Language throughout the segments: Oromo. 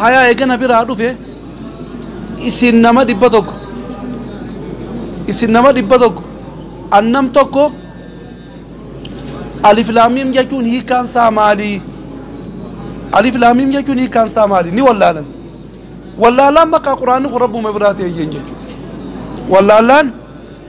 Hayaa eega na biraa dhufe isin nama dhibba tokko isin nama dhibba tokko an nam tokko alif laamiim jechuun hiikaan isaa maalii alif laamiim jechuun hiikaan isaa maalii ni wallaalan wallaalaan bakka quraanni kun rabbuma biraa ta'e jeen jechuudha wallaalaan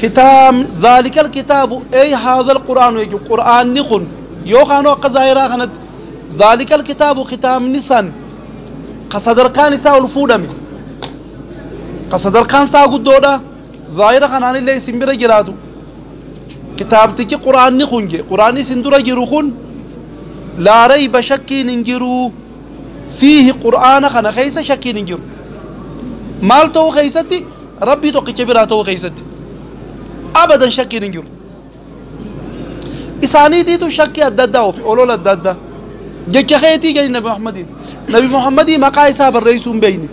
kitaabni zaalikal kitaabu ey haazal qur'aanu jechuun qur'aanni kun yookaanuu akka zaahiraa kanatti zaalikal kitaabu kitaabni san ka sadarkaan isaa ol fuudhame ka sadarkaan isaa guddoodha zaahira kanaanillee isin bira jiraatu kitaabtichi qur'aanni kun je qur'aanni isin dura jiru kun laa rayba shakkiin hin jiru fiihi qur'aana kana keessa shakkiin hin jiru maal ta'uu keessatti Rabbii tokkicha biraa ta'uu keessatti abadan shakkiin hin jiru. Isaaniitiitu shakkii adda addaa ofi olola adda addaa jecha keetii jedhi Nabi Muhammadiin. Nabi Muhammadii maqaa isaa barreessuu hin beekne.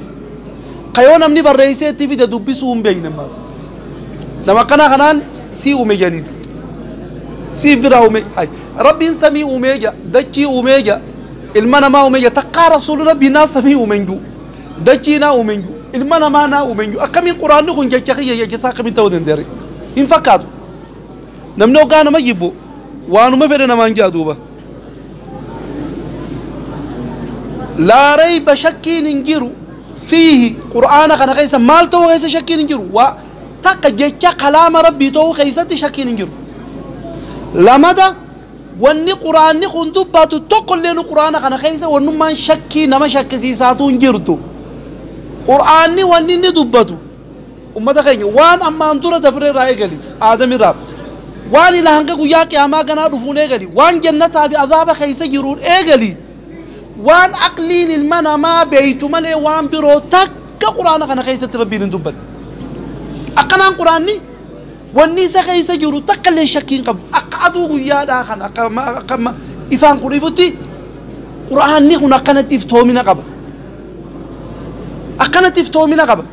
Ka yoo namni barreessee itti fide dubbisuu hin beekne ammaas. Nama akkanaa kanaan sii uume jedhaniin. Siif biraa uume. Hay. Rabbiin samii uumee jira. Dachii uumee jira. Ilma namaa uumee jira. Takkaa rasuulli rabbii naa samii uume hin jiru. dachii naa uume iyyuu ilma namaa naa uume iyyuu akkamiin quraanni kun jecha kiyya jecha isaa akkamiin ta'uu danda'are hin fakkaatu namni hoggaa nama jibbu waanuma fedhe namaan ja'a duuba laa rayba shakkiin hin jiru fiihi qur'aana kana keessa maal ta'uu keessa shakkiin hin jiru waa takka jecha kalaama rabbii ta'uu keessatti shakkiin hin jiru lamada Wanni Qur'aanni kun dubbatu tokkolleenu Qur'aana kana keessa wannummaan shakkii nama shakkisiisaatu hin jirtu. Qur'aanni wanni inni dubbatu ummata keenya waan ammaan dura dabre irraa eegali aadamirraa waan ila hanga guyyaa qiyaamaa ganaa dhufuun eegali waan jannataa fi azaaba keessa jiruun eegali waan aqliin ilma namaa beeytu malee waan biroo takka Qur'aana kana keessatti rabbiin hin dubbanne. Akkanaan Qur'aanni Wanni isa keessa jiru takkalleen shakkii hin qabu. Akka aduu guyyaadhaa kana, akka amma, akka amma ifaan kun ifutti, Qur'aanni kun akkanatti iftoomina qaba. Akkanatti iftoomina qaba.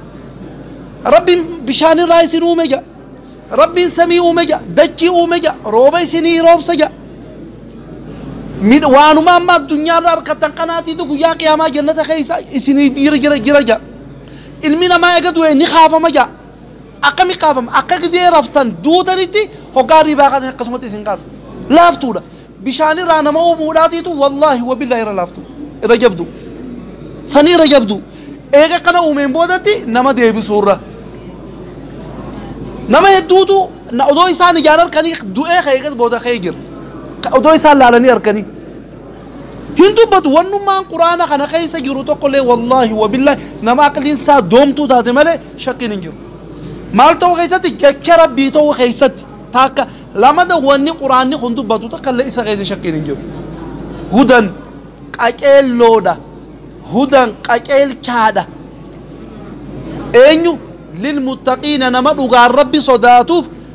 Rabbiin bishaanirraa isin uume jedha. Rabbiin samii uume jedha. Dachii uume jedha. Rooba isinii roobsa jedha. Mid- Waanuma amma addunyaarra harkattan kanaatiitu guyyaa qiyaamaa jannata keessa isiniif jira jira jira jedha. Ilmi namaa eega du'e ni kaafama jedha. Akkami kaafama? Akka gizee raftan, duutanitti, hoggaa hirriibaa kaatan akkasumatti isin kaasa. Laaftuudha. Bishaan irraa nama uumuudhaatiitu wallaahi wabillaahi irra laaftu. Irra jabdu. Sanii irra jabdu. Eega akkana uumeen boodatti nama deebisuurra. Nama hedduutu na- odoo isaan ijaan harkanii du'ee ka'e eegas booda ka'ee jira. Ka- Odoo isaan laalanii harkanii. Hin dubbatu wannummaan quraana kana keessa jiru tokkollee wallaahi wabillaahi nama aqliin isaa doomtuu taate malee shakkiin hin jiru. Maal ta'uu keessatti jecha rabbii ta'uu keessatti taakka lamada wanni quraanni kun dubbatu takka illee isa keessa shakkiin hin jiru. Hudan qaceelloodha. Hudan qaceelchaadha. Eenyu lilmuttaqiina nama dhugaan rabbi sodaatuuf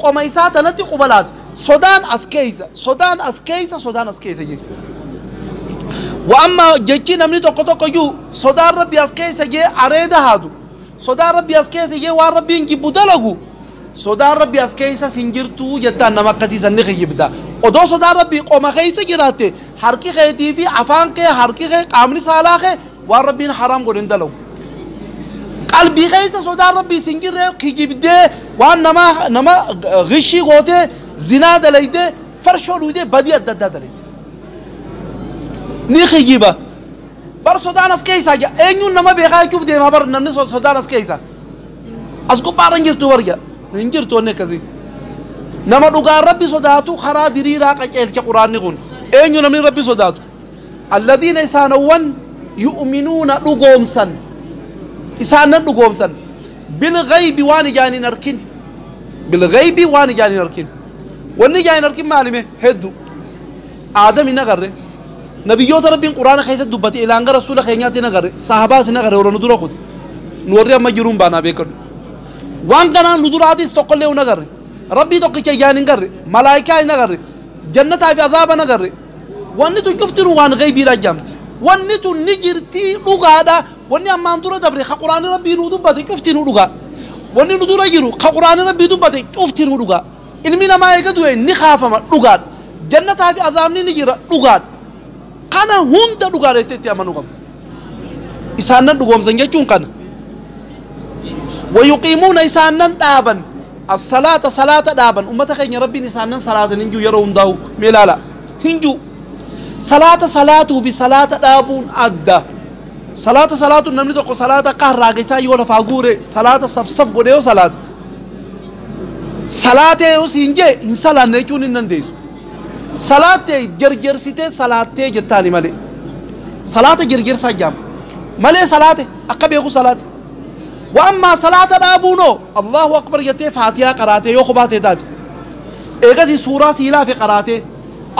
Qoma isaa tanatti quba laate. Sodaan as keessa, sodaan as keessa, sodaan as keessa jee. Wa amma jechi namni tokko tokko iyyuu sodaan rabbi as keessa jee areeda haadu. Sodaan rabbi as keessa jee waan rabbiin jibbu dalagu. Sodaan rabbi as keessas hin jirtu jettaan nama akkasii san ni kijibda. Odoo sodaan rabbi qoma keessa jiraatte harki keetii fi afaan kee harki kee qaamni saalaa kee waan rabbiin haraam godhe hin dalagu qalbii keessa sodaan rabbii sin jirre kijibdee waan nama nama gishii gootee zinaa dalayde farshoo dhuydee badii adda addaa dalayde ni kijiba bar sodaan as keessaa ja eenyuun nama beekaa jechuuf deemaa bar namni so- sodaan as keessaa as gubbaarra hin jirtu bar ja hin jirtu wanni akkasii nama dhugaa rabbi sodaatu karaa diriiraa qaceelcha quraanni kun eenyu namni rabbi sodaatu Alladiina isaanowwan yu'minuuna dhugoomsan isaan nan dhugoomsan bilghaybi waan ijaan hin arkin bilghaybi waan ijaan hin arkin wanni ijaan hin arkin maalime heddu aadam hin agarre nabiyyoota rabbiin quraana keessatti dubbate ilaan gara rasuula keenyaatti hin agarre sahabaas hin agarre warra nu dura kute nu warri amma jiruun baanaa beekadhu waan kanaan nu duraatis tokkollee hin agarre rabbii tokkicha ijaan hin garre malaayikaa hin agarre jannataa fi azaaba hin agarre Wanni tun cuftinuu waan ghaybiidhaa je'amti. Wanni tun ni jirtii dhugaadha. Wanni ammaan dura dabre ka Qur'aanni Rabbii nuu dubbate cuftinuu dhugaa. Wanni nu dura jiru ka Qur'aanni Rabbii dubbate cuftinuu dhugaa. Ilmi namaa eega du'e ni kaafama dhugaadha. Jannataa fi azaabni ni jira dhugaadha. Kana hunda dhugaadha jettee itti amanuu qabda. isaan nan dhugoomsan jechuun kana wayuqiimuuna isaan nan dhaaban assalaata salaata dhaaban ummata keenya rabbiin isaan nan salaatan hin jiru yeroo hundaa'u mee ilaala hin jiru salaata salaatuu fi salaata dhaabuun adda salaata salaatuun namni tokko salaata akka harraageessaa yoo lafaa guure salaata safsaf godhe yoo salaata salaatee yoo siin jee hin salaanne jechuun hin dandeessu Salaat tee jerjersitee salaattee jettaani malee salaata jerjersaa jaama malee salaate akka beeku salaate wa ammaa salaata dhaabuun hoo Allaahu akbar jettee faatiyaa qaraatee yoo kophaa tee taate eegasii suuraa sii laafe qaraatee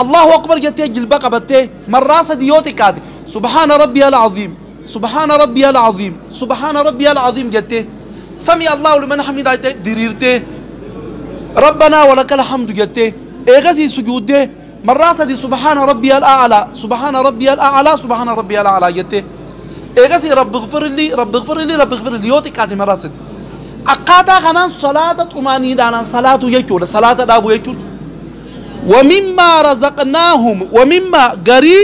Allaahu akbar jettee jilba qabattee marraa sadii yoo xiqqaate subhaana rabbiyal aziim Subhaana Rabbiyal Aziim, Subhaana Rabbiyal Aziim jettee, Sami'a Allaahu liman hamidah jettee diriirtee, Rabbanaa walakal hamdu jettee, eegasii sujuuddee marraa sadi Subhaana Rabbiyal A'alaa, Subhaana Rabbiyal A'alaa, Subhaana Rabbiyal A'alaa jettee, eegasii Rabbighfirlii, Rabbighfirlii, Rabbighfirlii yoo xiqqaate marraa sadi. Akkaataa kanaan salaata xumaaniinaadhaan salaatuu jechuudha, salaata dhaabuu jechuun. Wamimmaa razaqnaahum, wamimmaa garii.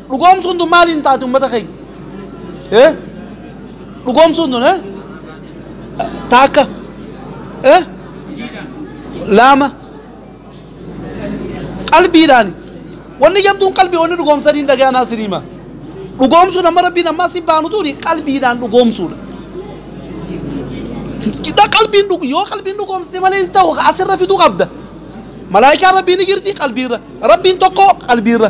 Dhugoomsuun tun maaliin taati ummata keenya? Eh? Dhugoomsuun tun eh? Taakka. Eh? Laama. Qalbiidhaan. Wanni jabduun qalbii wanni dhugoomsaniin dhaga'an hasin hima. Dhugoomsuun amma rabbiin ammaa si baanu tuni qalbiidhaan dhugoomsuudha. Qidha qalbiin dhugu yoo qalbiin dhugoomsite malee hin ta'u asirra fiduu qabda. Malaayikaan rabbiin ni jirti qalbiirra. Rabbiin tokko qalbiirra.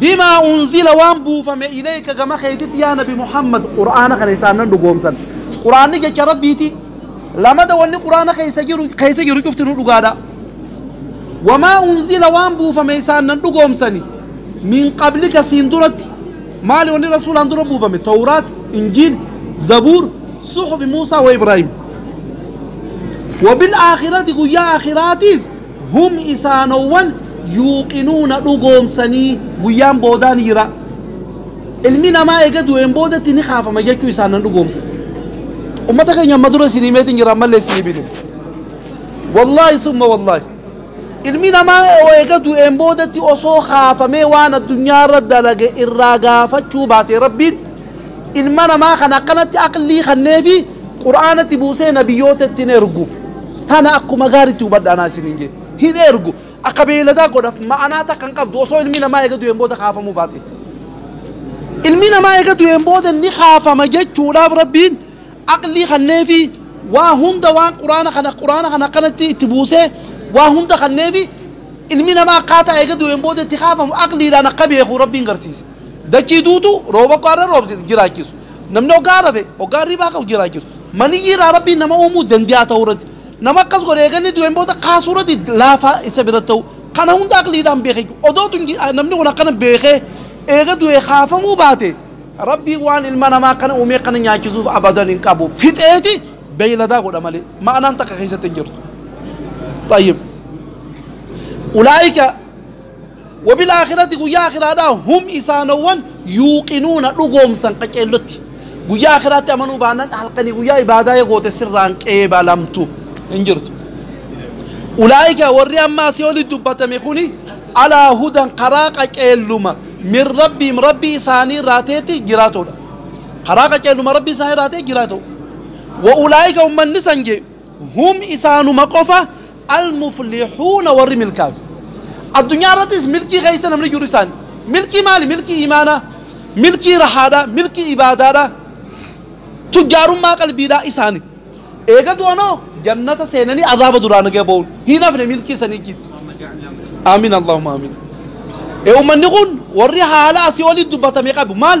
bimaa unzila waan buufame ilayka gama keetitti yaa nabi muhammad qur'aana kana isaan nan dhugoomsan qur'aanni jecha rabbiiti lamada wanni qur'aana keessa jiru keessa jiru cufti nu dhugaadha wamaa unzila waan buufame isaan nan dhugoomsani min qablika siin duratti maali wanni rasuulaan dura buufame tawraat injiil zabuur suhufi muusaa wa ibraahim wabil aakhirati guyyaa aakhiraatiis Hum isaanowwan yuuqinuuna dhugoomsanii guyyaan boodaa ni jira. Ilmi namaa eega du'een boodatti ni kaafama jechuu isaan nan dhugoomsa. Ummata keenya amma dura isin himeetiin jira ammallee isin hibinu. Wallaahi summa wallaahi. Ilmi namaa eega du'een boodatti osoo kaafamee waan addunyaa irra dalage irraa gaafachuu baate rabbiin ilma namaa kan akkanatti aqlii kanneefi qur'aanatti buusee nabiyyoota itti hin ergu tana akkuma gaaritti hubadha anaa isin hin jee hin ergu akka beeyladaa godhaf ma'anaa takka hin qabdu osoo ilmi namaa eega du'een booda kaafamuu baate ilmi namaa eega du'een booda ni kaafama jechuudhaaf rabbiin aqlii kanneefi waa hunda waan qur'aana kana qur'aana kana akkanatti itti buusee waa hunda kanneefi ilmi namaa akkaataa eega du'een booda itti kaafamu aqliidhaan akka beeku rabbiin garsiise Dachii duutuu rooba akka har'a roobsitu jiraachisu. Namni hoggaa rafe, hoggaa hirribaa ka'u jiraachisu. Maniyyii irraa Rabbiin nama uumuu dande'a ta'uu irratti. Nama akkas godhe eega inni du'een booda kaasuu irratti laafaa isa biratti ta'uu. Kana hunda aqliidhaan beeka jechuudha. Odoo tun namni kun akkana beekee eega du'ee kaafamuu baate Rabbiin waan ilma namaa kana uumee kana nyaachisuuf abadan hin qabu. Fixeeti beeyladaa godha malee. Ma'anaan takka keessatti hin jirtu. Xayyib. Ulaa'ika Wabil Aakhirati guyyaa Aakhiraadhaa hum isaanowwan yuuqinuuna dhugoomsan qaceellotti. Guyyaa Aakhiraatti amanuu baannan halkanii guyyaa ibaadaa yoo goote sirraan qeebalamtu hin jirtu. Ulaa'ika warri amma asii oli dubbatame kuni alaa hudan karaa qaceelluma min rabbiim rabbii isaanii irraa ta'etti jiraatoodha. Karaa qaceelluma rabbii isaanii irraa ta'e jiraatoo. Wa ulaa'ika ummanni san jee Hum isaanuma qofa almuflihuuna warri milkaawe. Addunyaa irrattis milkii keessa namni jiru isaani. Milkii maali? Milkii iimaanaa, milkii rahaadhaa, milkii ibaadaadhaa, tujjaarummaa qalbiidhaa isaani. Eega du'anoo jannata seenanii azaaba duraa naga ba'uun hin hafne milkii isanii ijjiitti. Aamiin Allaahumma aamiin. Ee ummanni kun warri haala asii olii dubbatame qabu maal?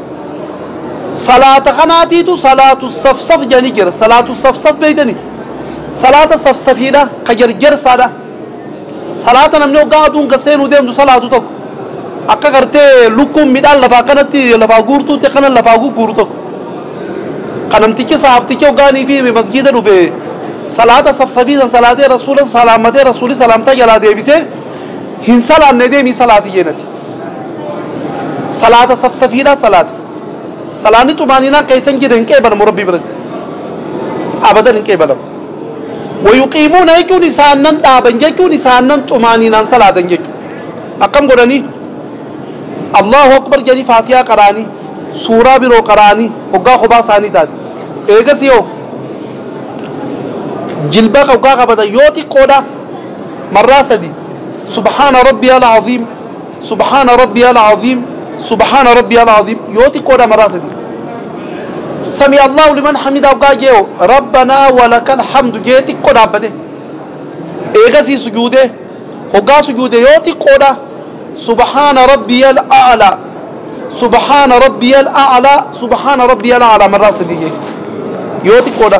salaata kanaatiitu salaatu safsaf jedhanii jira salaatu safsaf beektani salaata safsafiidha ka jarjarsaadha salaata namni hoggaa aduun gad seenuu deemtu salaatu tokko akka gartee lukkuun midhaan lafaa akkanatti lafaa guurtuutti akkana lafaa gugguuru tokko ka namtichi sahaabtichi hoggaanii fi masgiida dhufe salaata safsafiisan salaatee rasuula salaamatee rasuuli salaamtaa jalaa deebisee Hin salaanne deemii salaati jeenati. Salaata safsafiidha salaati. Salaanni xumaaninaan keessa hin jirre hin qeebalamu Rabbii biratti. Abadan hin qeebalamu. Wayuqiimuuna jechuun isaan nan dhaaban jechuun isaan nan xumaaninaan salaatan jechuudha. Akkam godhanii? Allahu akbar jedhanii faatiyaa qaraanii suuraa biroo qaraanii hoggaa kophaa isaanii taate. Eegas yoo jilba hoggaa qabatan yoo xiqqoodha Marraa sadii Subhaana Rabbiyal Aziim Subhaana Rabbiyal Aziim Subhaana Rabbiyal Aziim yoo xiqqoodha marraa sadii Sami Allahu liman hamidaa hoggaa jee'o Rabbanaa walakal hamdu jee xiqqo dhaabbate eegasii sujuudee hoggaa sujuude yoo xiqqoodha Subhaana Rabbiyal A'laa Subhaana Rabbiyal A'laa Subhaana Rabbiyal A'laa marraa sadii jee yoo xiqqoodha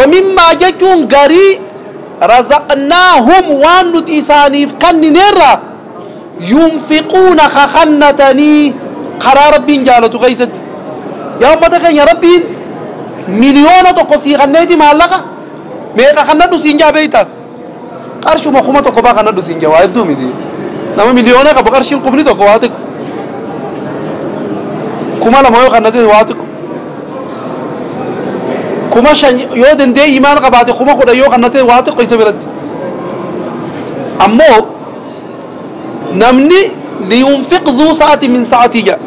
wamimmaa jechuun garii razaqnaahum waan nuti isaaniif kannineerraa yunfiquuna ka kannatanii karaa rabbiin jaalatu keessatti yaa ummata keenya rabbiin miliyoona tokko sii kanneeti maallaqa meeqa kannadhu siin jaa beeyta Qarshuma kuma tokko faa kan hadhu siin jawaa hedduu miti. Nama miliyoona qabu qarshiin kumni tokko waa xiqqo. Kuma lama yoo kan hadhu waa xiqqo. Kuma shan yoo dandeeyyi maal qabaate kuma kudha yoo kan hadhu waa xiqqo isa biratti. Ammoo namni liyunfiq zuu sa'ati min sa'atii jedha.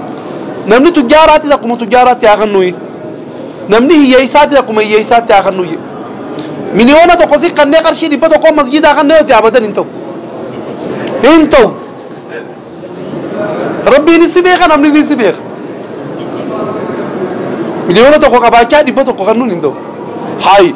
Namni tujjaaraattis akkuma tujjaaraatti haa kennuuyi. Namni hiyyeessaati akkuma hiyyeessaatti haa kannuu jedhe. Miliyoona tokko si kannee qarshii dhibba tokkoon masjiidaa kannee yoo ta'e abadan hin ta'u. Hin ta'u. Rabbiinis si beeka namni si beeka. Miliyoona tokko qabaachaa dhibba tokko kannuun hin ta'u. Haayi.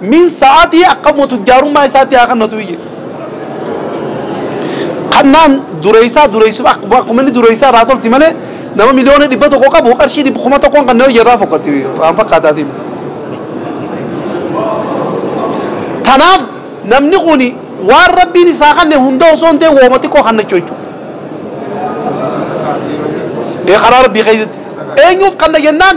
Min sa'atii akka immoo tujjaarummaa isaatti haa kannatu iyyiti. Kannaan dureessaa dureessu akkuma akkuma inni dureessaa irraa tolti malee nama miliyoona dhibba tokko qabu qarshii dhibba kuma tokkoon kan nama irraa fokkatti waan fakkaataatii miti. Tanaaf namni kuni waan rabbiin isaa kanne hunda osoo hin ta'e wooma xiqqoo kannachuu jechuudha. Ee karaa rabbii keessatti eenyuuf kanna jennaan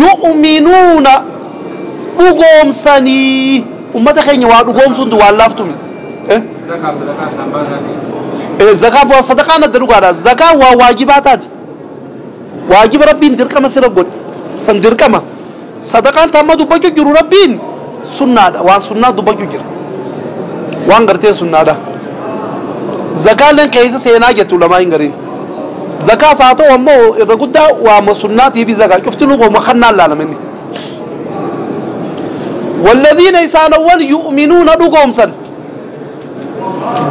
yu'minuuna dhugoomsanii ummata keenya waa dhugoomsuuntu waan laaftu miti Eh, Zakaaf sadaqaa addaan baasaa fi eh, zakaa bu'aa sadaqaan adda dhugaadha zakaa waa waajibaa taati waajiba rabbiin dirqama sira godhe san dirqama sadaqaan taamma dubbachuu jiru rabbiin sunnaadha waan sunnaa dubbachuu jira waan gartee sunnaadha zakaaleen keessa seenaa jettu lamaa hin gariin Zakaas haa ta'u ammoo irra guddaa waama sunnaatiif zakaa cuftinuu kooma kannaan laalama inni. Walladhiina isaanowwan yu'minuuna dhugoomsan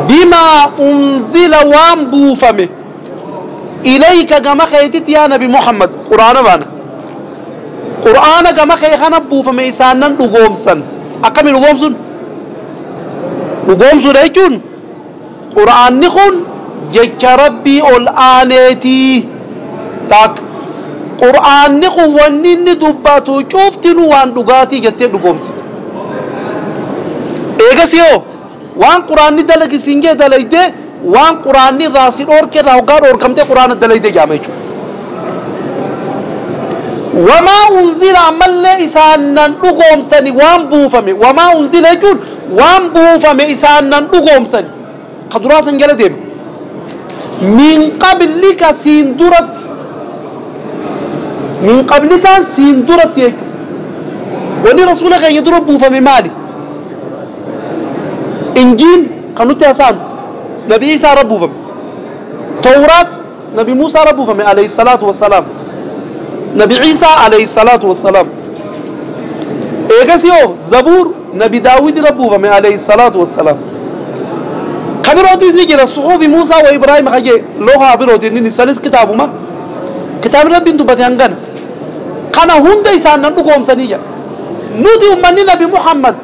bimaa unzila waan buufame ilayka gama keetitti yaa nabi Muhammad quraana baana. Quraana gama kee kana buufame isaanan dhugoomsan akkamiin dhugoomsun? Dhugoomsuudha jechuun Qur'aanni kun jecha Rabbii ol aaneeti. Taak. Qur'aanni kun wanni inni dubbatu cuftinuu waan dhugaatii jettee dhugoomsite. Eegasii hoo waan Qur'aanni dalagi siin jee dalayde waan Qur'aanni irraa si dhoorke irraa hoggaa dhoorkamtee Qur'aana dalayde jaama jechuudha. Wamaa unzila ammallee isaan nan dhugoomsani waan buufame wamaa unzila jechuun Waan buufame isaan nan dhugoomsani. Ka duraa san jala deema. Min qablika siin duratti. Min qablikaan siin duratti jechuudha. Wanni rasuula keenya dura buufame maali? Injiil kan nutti hasaanu nabi Iisaa irra buufame. Tawraat Nabi Muusaa irra buufame alayhi salaatu wassalaam. Nabi Ciisaa alayhi salaatu wassalaam. Eegasii hoo Zabuur Nabi Daawwid irra buufame alayhi salaatu wassalaam. Ka birootis ni jira suhuufi Muusaa wa Ibraahim ka jee loohaa birootiin inni sanis kitaabuma. Kitaabni Rabbiin dubbate hangana. Kana hunda isaan nan dhugoomsanii jedha. Nuti ummanni Nabi Muhammad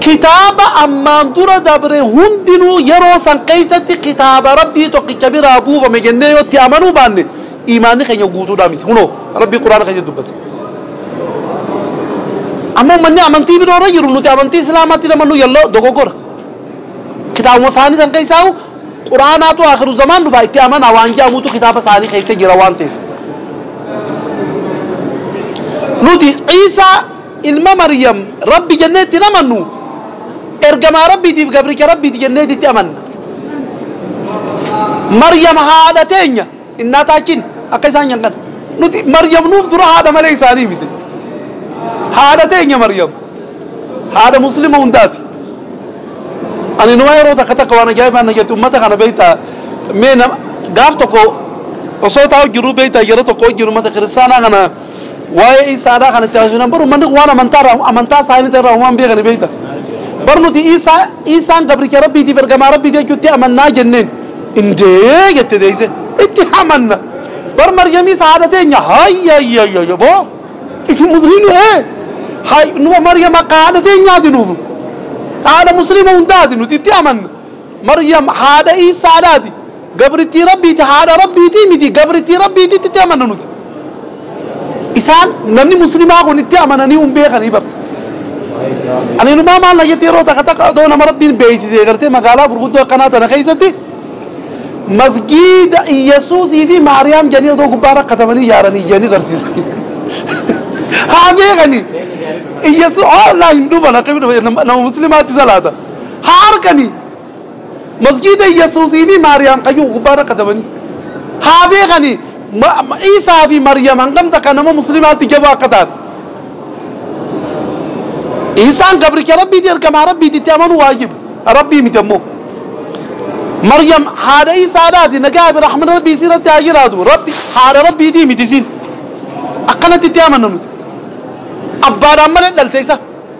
kitaaba ammaan dura dabre hundinuu yeroo san keessatti kitaaba rabbii tokkicha biraa buufame jennee yoo itti amanuu baanne imaanni keenya guutuudhaa miti kunoo rabbii quraana keessatti dubbate amma ummanni amantii biroo irra jiru nuti amantii islaamaatti namannu yalloo dogoggora kitaabuma isaanii san keessaa Qur'aanaatu Aakhiru Zamaan dhufa itti amanaa waan je'amuutu kitaaba isaanii keessa jira waan ta'eef. Nuti Iisaa ilma Maryam Rabbi jennee itti hin amannu, ergamaa Rabbiitiif gabricha Rabbiiti jenneeti itti amanna. Maryam haadha teenya. Innaataachiin akka isaan nyan kana. Nuti Maryam nuuf dura haadha malee isaanii miti. Haadha teenya Maryam. Haadha Muslima hundaati. Ani numa yeroo takka takka waan ajaa'ibaa na jettu ummata kana beektaa mee gaaf tokko osoo taa'u jiru beektaa yeroo tokko wajjin ummata kiristaanaa kana Waa'ee Iisaa aadaa kana itti agarsiisnaan bar ummanni kun waan amantaa irraa amantaa isaanii ta'e irraa homaa hin beekani beekta. Bar nuti Iisaa Iisaan gabricha Rabbiitiif ergamaa Rabbii jechuutti amannaa jenneen. Indee jette deeyse. Itti amanna. Bar Maryamiis haadha teenya hayyayyayyo boo isin musliimni ee hay numa Maryam akka haadha teenyaati nuuf haadha musliima hundaati nuti itti amanna. Maryam haadha Iisaadhaati. Gabrittii Rabbiiti, haadha Rabbiiti miti, gabrittii Rabbiititti itti amanna nuti. Isaan namni muslimaa kun itti amananii hin beekanii bar. Ani inumaa maal na jettee yeroo takka takka odoo nama Rabbiin beeksisee gartee magaalaa gurguddoo akkanaa tana keessatti masgiida Iyyasuusii fi Maariyaam jedhanii odoo gubbaa rakkatamanii ijaaranii ijanii garsiisanii. Haa beekanii. Iyyasuu hoolaa hin dhufa lakka nama muslimaatti salaata. Haa arganii. Masjiida Yesuusii fi Maariyaam kan jiru gubbaa irra katabanii. Haa beekani ma- ma- Iisaa fi Maariyaam hangam takka nama muslimaatti jabaa akka taate. Iisaan gabricha Rabbiiti ergamaa Rabbiiti itti amanuu waajiba. Rabbii miti ammoo. Maryam haadha Iisaadhaati nagaa fi rahmata Rabbii isii irratti haa jiraatu. Rabbi haadha Rabbiitii miti isiin. Akkanatti itti amanna nuti. Abbaadhaan malee dhalte isa.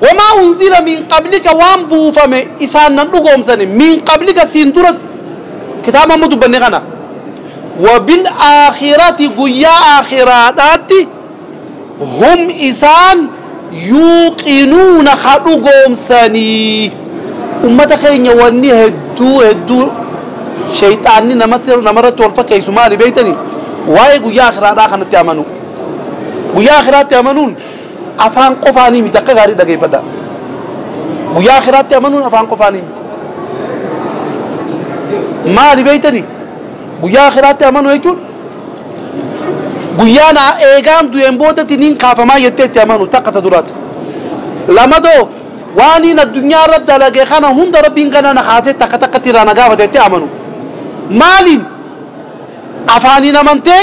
Wamaa unzila min qablika waan buufame isaan nan dhugoomsani min qablika siin dura kitaaba amma dubbanne kana wabil aakhirati guyyaa aakhiraadhaatti hum isaan yuuqinuuna ka dhugoomsanii ummata keenya wanni hedduu hedduu sheyxaanni namatti namarratti wal fakkeessu maali beeytanii waa'ee guyyaa aakhiraadhaa kanatti amanuu guyyaa aakhiraatti amanuun Afaan qofaanii miti akka gaarii dhageeffadhaa. Guyyaa akiraatti amanuun afaan qofaanii miti. Maali beektani? Guyyaa akiraatti amanuu jechuun guyyaa naa eegaan du'een boodatti niin kaafamaa jettee itti amanu takka ta duraati. Lamadoo waaniin addunyaa irra dalage kana hunda rabbiin gana na kaasee takka takkatti irraa na gaafata jettee amanu. Maaliin? Afaaniin amantee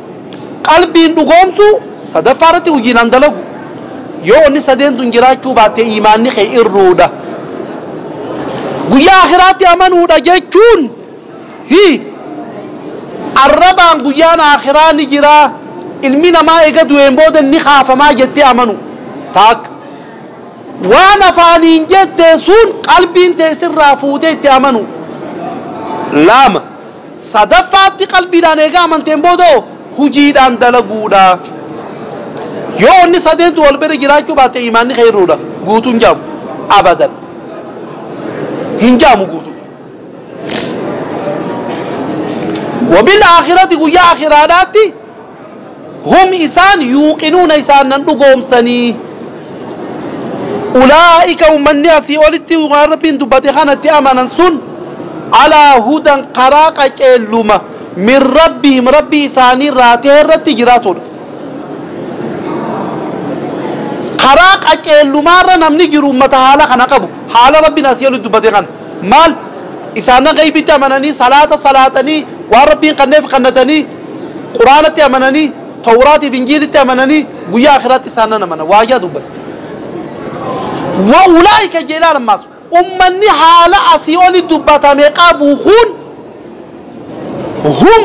Qalbiin dhugoomsuu, sadaffaa irratti hojiidhaan dalagu. Yoo wanni sadeen tun jiraachuu baatte iimaanni kee irruudha. Guyyaa akhiraatti amanuudha jechuun hi arrabaan guyyaan akhiraa ni jiraa, ilmi namaa eega du'een booda ni kaafamaa jettee amanuu taakka. Waan afaaniin jette sun qalbiin tee sirraa fuutee itti amanuu. 2. Sadaffaatti qalbiidhaan eega amanteen booda hoo hujiidhaan dalaguudha. Yoo wanni sadeen tun wal bira jiraachuu baatte iimaanni kee hir'uudha. Guutuu hin jaamu. Abadan. Hin jaamu guutuu. Wabil aakhirati guyyaa aakhiraadhaatti Hum isaan yuuqinuuna isaan nan dhugoomsanii. Ulaa'ika ummanni asii olitti waan rabbiin dubbate kanatti amanan sun alaa hudan karaa qaceelluma min rabbihim rabbii isaanii irraa ta'e irratti jiraatudha. Karaa qaceellumaarra namni jiru ummata haala kana qabu haala rabbiin asii olitti dubbate kana. Maal? Isaannan ghaybitti amananii, salaata salaatanii, waan Rabbiin kanneef kannatanii, Qur'aanatti amananii, Tawraat fi Injiilitti amananii, Guyyaa Aakhiraatti isaan nan amana. Waayyaa dubbate. Wa ulaa'ika jeelaan ammaas ummanni haala asii oli dubbatame qabu kun hum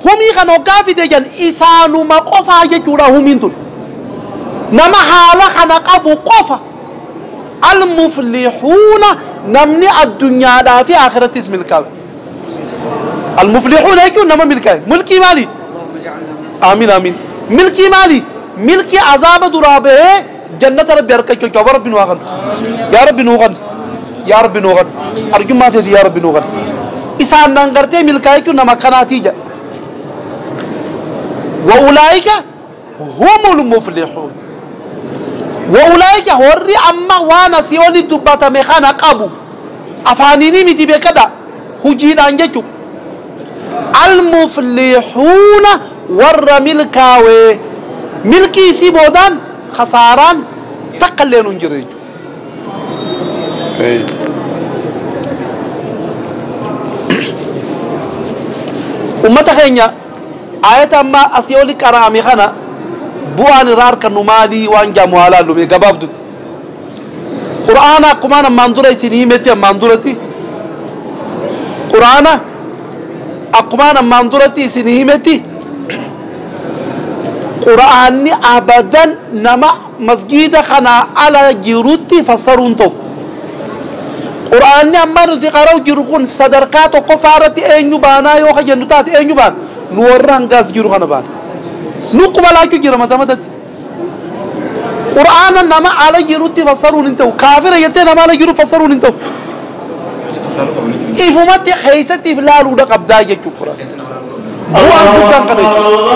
Humii kana hoggaa fide jan isaanuma qofaa jechuudha humiin tun. Nama haala kana qabu qofa. Al-muflihuuna namni addunyaadhaa fi aakhirattis milkaawe. Al-muflihuuna jechuun nama milkaawe. Milkii maali? Aamiin aamiin. Milkii maali? Milkii azaaba duraa bahee Jannata rabbi harka jechuun jechuudha. Rabbi nu haa kennu. Yaa rabbi nuu kennu. Yaa rabbi nuu kennu. Arjummaa teeti yaa rabbi nuu kennu. Isaan naan gartee milkaa jechuun nama kanaatii jedha. Wa ulaa'ika humul muflihuun. Wa ulaa'ika warri amma waan asii oli dubbatame kana qabu. Afaaniinii miti beekadha. Hujiidhaan jechuudha. Al-muflihuuna warra milkaawe. Milkii isii boodaan khasaaraan takkalleenu hin jirre jechuudha. Ummata keenya aayata amma asii oli qara'ame kana bu'aan irraa arkannu maalii waan jaamu haa laallu mee gabaabdutti. Qur'aana akkumaan ammaan dura isin himetti ammaan duratti Qur'aana akkumaan ammaan duratti isin himetti Qur'aanni abadan nama masgiida kanaa ala jirutti fassaruun ta'u. Qur'aanni amma nuti qara'u jiru kun sadarkaa tokkoffaa irratti eenyu baanaa yoo ka jennu taate eenyu baana? Nu warra hangaas jiru kana baana. Nu quba laachuu jira mata matatti. Qur'aana nama ala jirutti fassaruun hin ta'u. Kaafira jettee nama ala jiru fassaruun hin ta'u. Ifumatti keessatti if laaluudha qabdaa jechuudha Qur'aana. Bu'aan guddaan kana jechuudha.